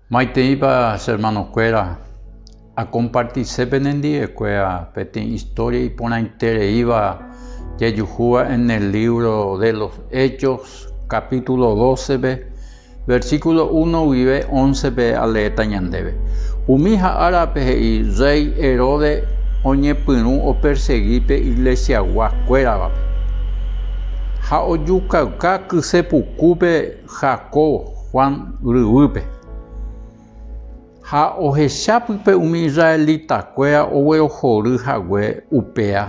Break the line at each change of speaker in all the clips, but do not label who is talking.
Maiteipa che hermanokuéra, akompartise penendivekuéra peteĩ istória iporãitereíva jajuhúva en el lívro de los Hechos, kapítulo dócepe, versíkulo uno guive óncepe aleéta ñandéve. Umi ha árape he'i rréi Heróde oñepyrũ opersegi pe iglesiagua kuéravape ha ojukauka kyse pukúpe Jacob Juan ryvýpe. Ha ohecha pype umi israelitakuéra oguerohory hague upéa,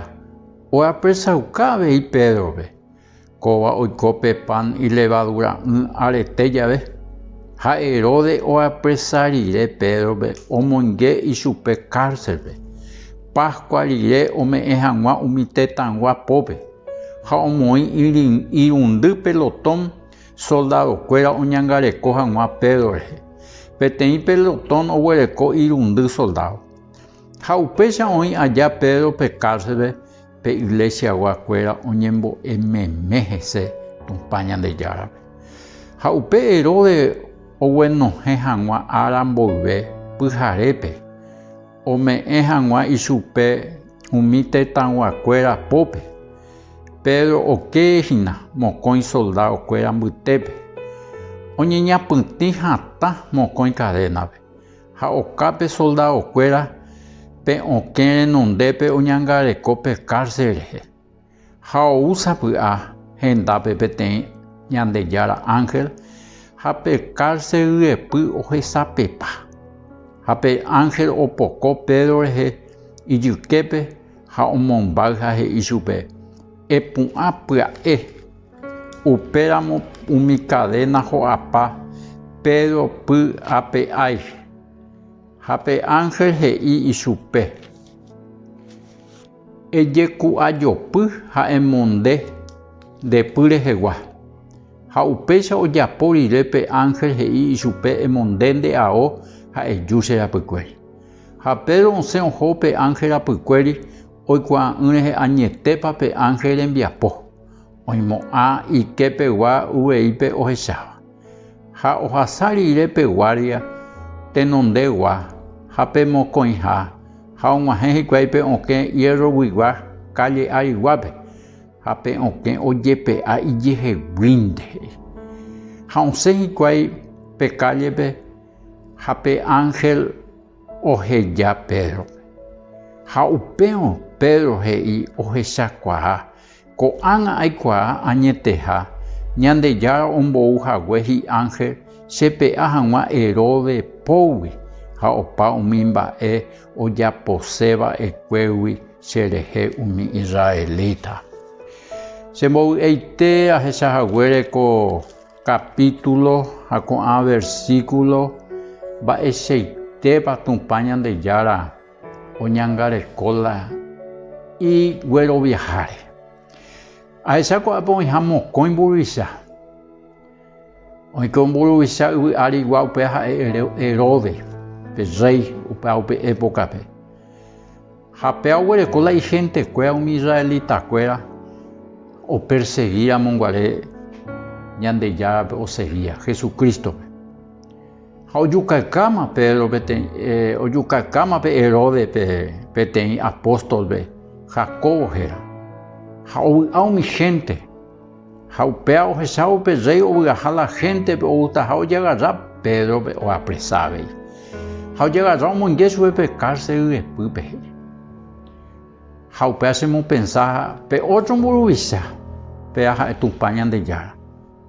oapresauka avei Pédrope, Kóva oiko pe pan ilevadura'ỹ arete jave. Ha Heróde oapresa rire Pédrope omoinge ichupe kárselpe, Páskua rire ome'ẽ hag̃ua umi tetãygua pópe, ha omoĩ irundy pelotón Soldadokuéra oñangareko hag̃ua Pedro rehe. Peteĩ pelotón oguereko irundy soldádo. Ha upéicha oĩ aja Pedro pe kárselpe pe iglesiaguakuéra oñembo'e meme hese Tupã Ñandejárape. Ha upe Herodes oguenohẽ hag̃ua ára mboyve pyharépe. Ome'ẽ hag̃ua ichupe umi tetãyguakuéra pópe, Pedro okee hína mokõi soldadokuéra mbytépe, oñeñapytĩ hatã mokõi karénape, ha okápe soldadokuéra pe okẽ renondépe oñangareko pe kárse rehe. Ha ou sapy'a hendápe peteĩ Ñandejára ánhel ha pe kárse ryepy ohesapepa. Ha pe ánhel opoko Pedro rehe ijyképe ha omombáy ha he'i chupe, Epu'ã pya'e. Upéramo umi kadéna ho'apa Pedro py ape ái. Ha pe ánhel he'i ichupe. Ejeku'ajopy ha emonde nde py rehegua. Ha upéicha ojapo rire pe ánhel he'i ichupe emonde nde ao ha eju che rapykuéri. Ha Pedro osẽ oho pe ánhel rapykuéri oikuaa'ỹ rehe añetépa pe ánhel rembiapo oimo'ã iképe gua uveípe ohecháva. Ha ohasa rire pe guárdia tenondegua ha pe mokõiha ha og̃uahẽ hikuái pe okẽ hierroguigua kálle ariguápe, ha pe okẽ ojepe'a ijeheguínte he'i. Ha osẽ hikuái pe kállepe ha pe ánhel oheja Pédrope. Ha upérõ Pedro he'i ohechakuaa Ko'ág̃a aikuaa añeteha Ñandejára ombou hague hi'ángel chepe'a hag̃ua Heróde pógui ha opa umi mba'e ojapose va'ekuégui cherehe umi israelita. Chembovy'aite ahecha haguére ko kapítulo ha ko'ã versíkulo mba'eichaitépa Tupã Ñandejára Oñangareko la igueroviaháre. Ahecha ko'ápe oĩha mokõi mburuvicha. Oĩke mburuvicha yvy árigua upéva ha'e Heróde, pe rréi upéva upe épokape. Ha péva oguereko la ihentekuéra umi israelitakuéra opersegíramo guare Ñandejárape osegia, Jesucrístope. Ha ojukaikáma Pedro peteĩ, eh, ojukaikáma pe Herode pe, peteĩ apóstolpe, Jacobo héra. Ha ovy'a umi hénte. Ha upéva ohecha upe rréi ovy'aha la héntepe outaha ojagarra Pédrope oapresa avei. Ha ojagarra omoinge chupe pe kárse yvepýpe he'i. Ha upéva chemopensa pe ótro mburuvicha, péva ha'e Tupã Ñandejára.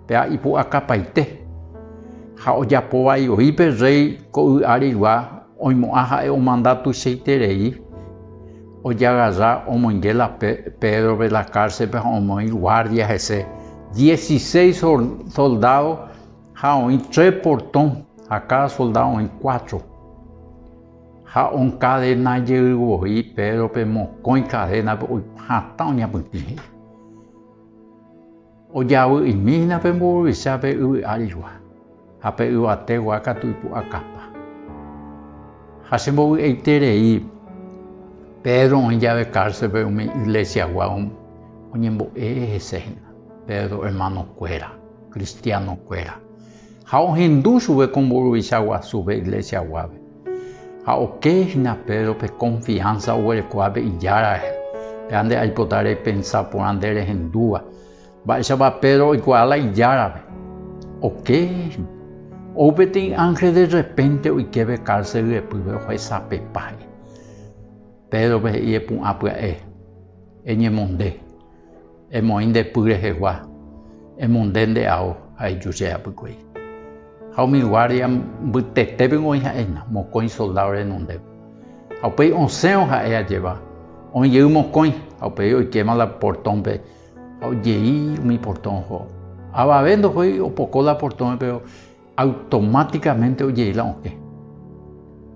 Péva ipu'akapaite, ha ojapo vaivoi pe rréi ko y áregua oimo'ã ha'e omanda tuichaiterei ojagarra omoinge la Pédrope la kárselpe ha omoĩ guárdia hese dieciséis soldádo ha oĩ tre portõ ha káda soldádo oĩ cuatro. Ha onkadena jey voi Pédrope mokõi kadénape oiko hatã oñapytĩ he'i. Ojavy'imína pe mburuvicha pe yvy árigua, ha pe yvategua katu ipu'akapa. Ha chembovy'aiterei, Pedro oĩ jave cárcelpe umi iglesiagua oñembo'e hese hína, Pedro hermanokuéra, cristianokuéra, ha ohendu chupe ko mburuvicha guasu pe iglesiaguápe. Ha oke hína Pedro pe konfiánsa oguerekoha pe Ijára rehe. Péva nde aipota repensa porã nde rehendúva. Mba'éichapa Pedro oikuaa la Ijárape? Oke hína. Ou peteĩ ánhel de rrepénte oike pe kárse ryepýpe ohesapepa he'i. Pédrope he'i epu'ã pya'e, eñemonde. Emoĩ nde py rehegua, emunde nde ao ha eju che apykuéi. Ha umi guárdia mbytete piko oĩ ha'éna, mokõi soldádo renondépe. Ha upéi osẽvo ha'e ajéva, oĩ jey mokõi, ha upéi oikéma la portõpe ha ojei umi portõ oho. Avave ndohói opoko la portõme, péro Automáticamente ojei la okẽ.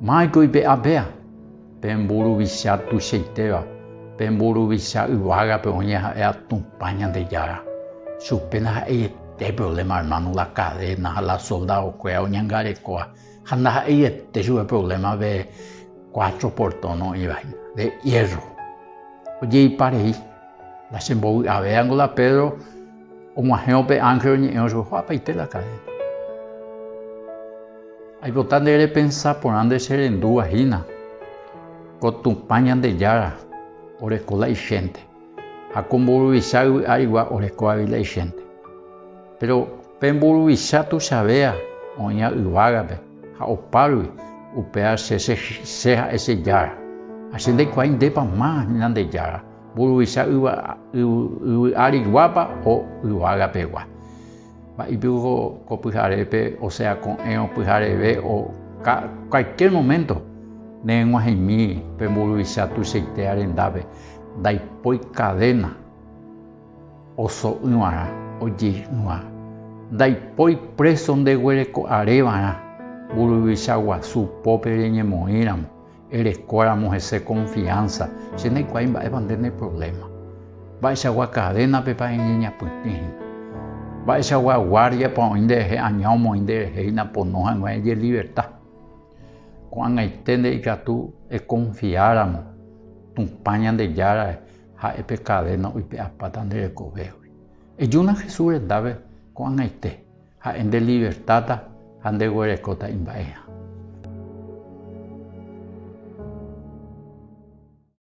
Máiko ipe'a péa, pe mburuvicha tuichaitéva, pe mburuvicha yvágape oĩ ha'éva Tupã Ñandejára. Chupe ndaha'eiete problema hermano la cadena ha la soldado-kuéra oñangarekóva, ha ndaha'eiete chupe problema de cuatro portón oĩva hína, de hierro. Ojeipa rei, La chembovy'avéva ngo la Pedro, Og̃uahẽ upe ánhel oñe'ẽ ojuhu apaite la kadéna. Aipota nde repensa porã nde che rendúva hína ko Tupã Ñandejára oreko la ichénte ha ko mburuvicha yvy árigua oreko avei la ichénte. Péro pe mburuvicha tuichavéva oĩva yvágape ha opárigui, upéva che ha'e che Jára. Ha che ndaikuaái ndépa ma Ñandejára Mburuvicha yva yvy ári guápa o yvága pegua. Mba'éipeku ko, ko pyharépe, osea ko'ẽrõ pyhareve o ka, cualquier momento, nereg̃uahẽmi pe mburuvicha tuichaite arendápe, ndaipói cadena oso'ỹvarã, ojeýva, ndaipói preso ndeguereko'arévarã mburuvicha guasu pópe reñemoĩramo. Erekóramo hese konfiánsa, che ndaikuaái mba'épa nde ne provléma. Mba'eichagua kadénapepa eñeñapytĩ hína? Mba'eichagua guárdiapa oĩ nderehe aña omoĩ nderehe hína pono hag̃ua ejeliverta? Ko'ag̃aiténte ikatu ekonfiáramo Tupã Ñandejárare ha'e pe kadéna oipe'apáta nde rekovégui. Ejúna Jesús rendápe ko'ag̃aite. Ha'e nde livertáta ha nde guerekóta imba'eha.